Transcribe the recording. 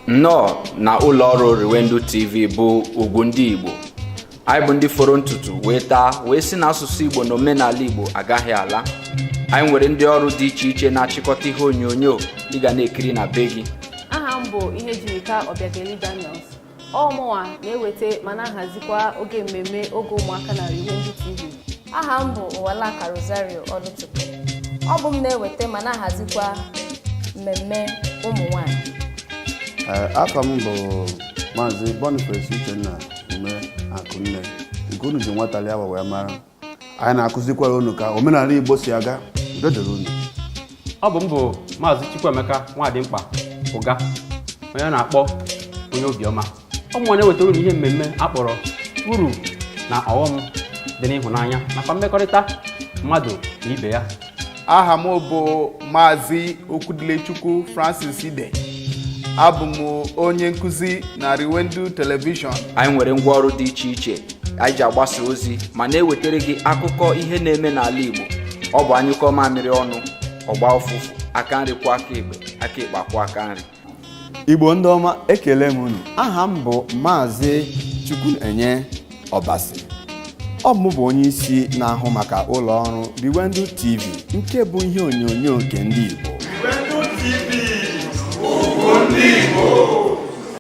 nnọọ na ụlọ ọrụ Riwendu TV bụ ugwu ndị Igbo anyị bụ ndị foro ntutu wee taa wee sị na asụsụ Igbo na omenala Igbo agaghị ala anyị nwere ndị ọrụ dị iche iche na-achịkọta ihe onyonyo ị ga na-ekiri na be gị aha m bụ Ihejirika Obiageli Daniels ọ mụnwa na-eweta ma na-ahazikwa oge mmemme oge ụmụaka na Riwendu TV aha m bụ Ụwalaka Rosario Ọlụchukwu ọ bụ m na-eweta ma na-ahazikwa mmemme ụmụ nwanyị afa m bụ maazị Boniface Uchenna Umeakụnne nke unu ji nwatalị awa wee mara anyị na-akụzikwara unu ka omenala igbo si aga udo dịrị unu ọ bụ m bụ maazị chukwuemeka nwadịmkpa ụga onye a na-akpọ onye obiọma ọ mụnwa na-ewetara unu ihe mmemme a kpọrọ uru na ọghọm dị n'ịhụnanya nakwa mmekọrịta mmadụ na ibe ya aha m bụ maazị okwudilechukwu francis ide abụ m onye nkụzi na riwendu telivishọn anyị nwere ngwa ọrụ dị iche iche anyị ji agbasa ozi ma na-ewetara gị akụkọ ihe na-eme n'ala igbo ọ bụ a nyụkọọ mamịrị ọnụ ọ gbaa ụfụfụ aka nri kwọọ aka ekpe aka ekpe akwọọ aka nri igbo ndị ọma ekele m unu aha m bụ maazị chukwunenye ọbasi ọ bụ m bụ onye isi na-ahụ maka ụlọ ọrụ riwendu tv nke bụ ihe onyonyo nke ndị igbo